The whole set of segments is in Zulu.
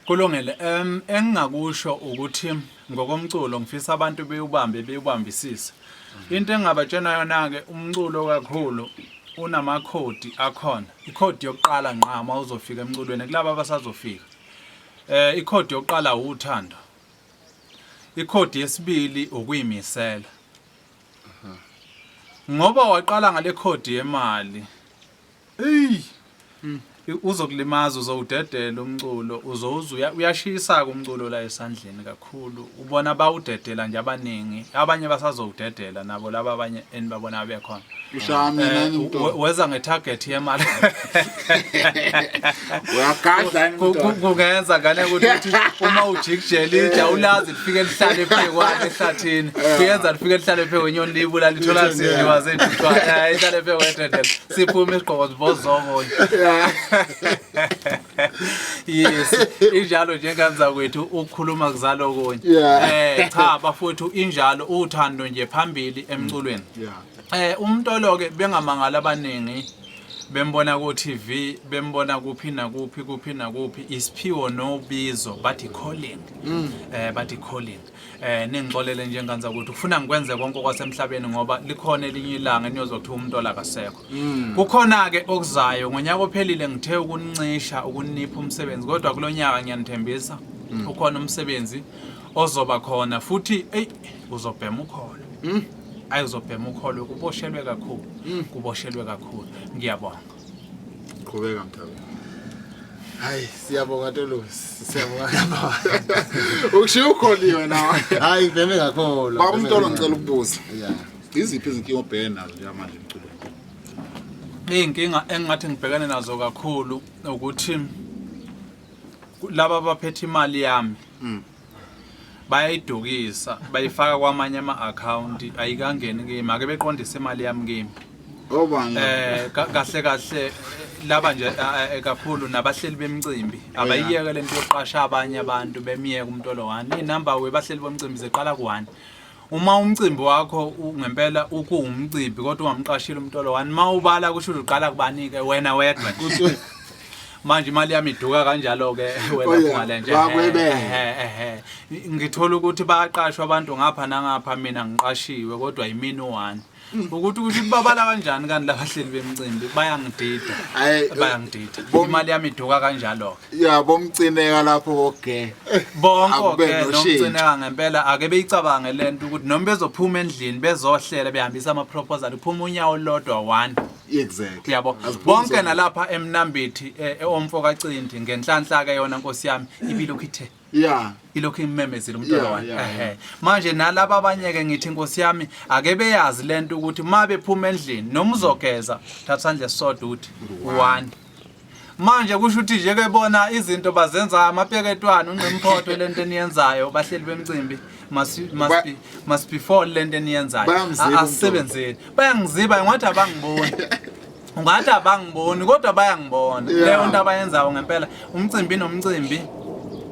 Kulungile um engingakusho ukuthi ngokomculo ngifisa abantu bewubambe bewubambisise into engingabatshena yona-ke umculo kakhulu unamakhodi akhona ikhodi yokuqala nqa uma uzofika emculweni kulaba abasazofika um ikhodi yokuqala wuthando ikhodi yesibili ukuyimisela ngoba waqala ngale khodi yemali Ey. Mm. Uzokulimaza uzowudedela umculo uzoze uyashisa kumculo la esandleni kakhulu ubona bawudedela nje abaningi abanye basazowudedela nabo laba abanye enibabona bekhona ushaya mina eh, ngimntwana weza ngetarget yemali uyagadla ngimntwana kungenza ngane ukuthi uma ujikijela ija ulazi lifike lihlale phekwane ehlathini kuyenza lifike lihlale phekwenyoni libula lithola sidliwa zethu ihlale phekwe dedela siphume isigqoko zibozoko yes injalo njenganza kwethu ukukhuluma kuzalo kunye Yeah. eh cha bafowethu injalo uthando nje phambili emculweni Yeah. eh umntolo ke bengamangala abaningi bembona ku TV bembona kuphi nakuphi kuphi nakuphi isiphiwo nobizo bathi calling eh bathi calling eh ningixolele nje nganza ukuthi ufuna ngikwenze konke okwasemhlabeni ngoba likhona elinye ilanga eniyozothiwa umuntu olakasekho mm. kukhona ke okuzayo ngonyaka ophelile ngithe ukuncisha ukunipha umsebenzi kodwa kulonyaka ngiyanithembisa mm. ukhona umsebenzi ozoba khona futhi ey uzobhema ukholo mm. ayizobhema ukholo kuboshelwe kakhulu kuboshelwe kakhulu ngiyabonga qhubeka mthabe hayi siyabonga tolosi siyabonga ukushiya ukholiwe nawe hayi veme ngakholwa baba umtolo ngicela ukubuza yeah iziphi izinkinga obhekene nazo njengamanje emculweni iy'nkinga engingathi ngibhekene nazo kakhulu ukuthi laba abaphethe imali yami mm. bayayidukisa bayifaka kwamanye ama-akhawunti ayikangeni kimi make beqondise imali yami kimi um kahle kahle laba nje eh, eh, kakhulu nabahleli bemcimbi abayiyeke le nto yokuqasha abanye abantu bemyeke umuntu olowani iy'number webahleli bomcimbi ziqala ku-one Uma umcimbi wakho ngempela ukuwumcimbi kodwa ungamqashile umuntu olowani uma ubala kusho ukuthi uqala kubanike wena wedwa nje. manje imali yami iduka kanjalo ke wena Oh, yeah. ungale nje Wakwebele. Ehhe, ehhe. ngithola ukuthi bayaqashwa abantu ngapha nangapha mina ngiqashiwe kodwa yimini one ukuthi ukuthi kubabala kanjani kanti labahleli bemcimbi bayangidida bayangidida imali yami iduka kanjalo ke ya bomcineka lapho koge bonke ke nomcineka ngempela ake beyicabange lento ukuthi noma bezophuma endlini bezohlela behambisa ama proposal uphuma unyawo lodwa one exactly yabo bonke nalapha emnambithi eomfo eh, kacindi ngenhlanhla ke yona nkosi yami ibilo khithe yeah ilokhu imemezile umntwana yeah, wami yeah, yeah. manje nalaba abanye ke ngithi inkosi yami ake beyazi lento ukuthi uma bephuma endlini noma uzogeza thatha sandle sodwa uthi one manje kusho ukuthi nje ke bona izinto bazenza amapeketwana unqimphotho lento eniyenzayo bahleli bemcimbi must must be must be for lento eniyenzayo asebenzeni bayangiziba ngathi abangiboni ungathi abangiboni kodwa bayangibona Yeah. leyo nto abayenzayo ngempela umcimbi nomcimbi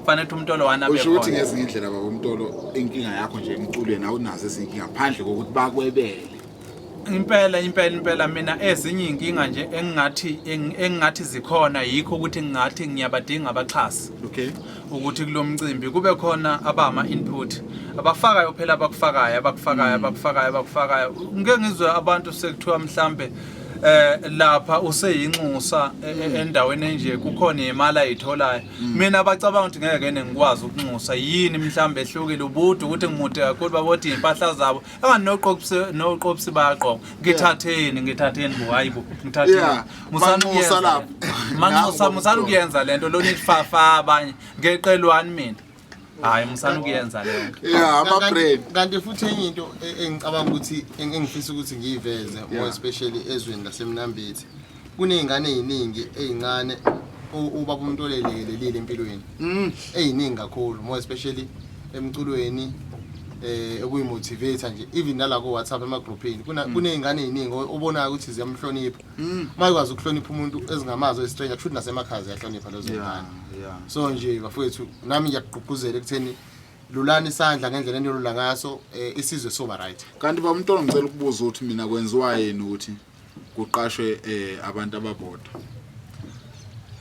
kufanele ukuthi umtolo wani abe usho ukuthi khona ngezinye indlela baba umtolo inkinga yakho nje emculweni awunazo ezinye inkinga phandle kokuthi bakwebele impela impela impela mina ezinye iy'nkinga nje engingathi eng- engingathi zikhona yikho ukuthi ngingathi ngiyabadinga abaxhasi okay ukuthi kulo mcimbi kube khona abama input abafakayo phela abakufakayo abakufakayo abakufakayo abakufakayo ngeke ngizwe abantu sekuthiwa mhlambe eh lapha useyinxusa e- e- mm. endaweni enje kukhona imali ayitholayo mm. mina abacabanga ukuthi ngeke kene ngikwazi ukunxusa yini mhlawumbe ehlukile ubude ukuthi ngimude kakhulu babothi impahla zabo anganoqoqisi noqoqisi bayaqoqa ngithatheni ngithatheni bo hayi bo ngithatheni musanxusa lapha manxusa musalukuyenza lento lona ifafa abanye ngeqelwani mina hayi musana ukuyenza leyo yeah ama bread kanti futhi enye into e- engicabanga ukuthi eng- engifisa ukuthi ngiyiveze more especially ezweni lasemnambithi kunezingane eziningi ezincane u- ubaba umuntu olelekelelile empilweni Mm. eziningi kakhulu more especially emculweni eh okuyi motivator nje even nala ko WhatsApp emagroupini kuna kunezingane eziningi o- obonayo ukuthi ziyamhlonipha Mm. Uma ikwazi ukuhlonipha umuntu ezingamazi oyistranger kushuthi nasemakhaya ziyahlonipha lezo ngane. So nje bafowethu nami ngiyakugqugquzela ekutheni lulani isandla ngendlela enilula ngaso eh, isizwe soba right. Kanti ba umntwana ngicela ukubuza ukuthi mina kwenziwa yini ukuthi kuqashwe eh, abantu ababodwa.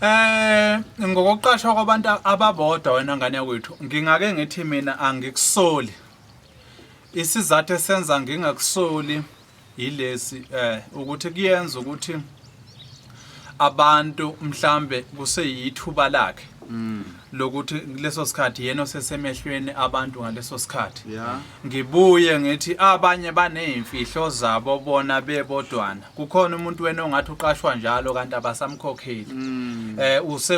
Eh ngokuqashwa kwabantu ababodwa wena ngane yakwethu ngingake ngithi mina angikusoli. Isizathu esenza ngingakusoli yilesi eh ukuthi kuyenza ukuthi abantu mhlambe kuseyithuba lakhe mm. lokuthi leso sikhathi yena osesemehlweni abantu ngaleso sikhathi ngibuye ngithi abanye baneyimfihlo zabo bona bebodwana kukhona umuntu wena ongathi uqashwa njalo kanti abasamkhokheli mm. eh use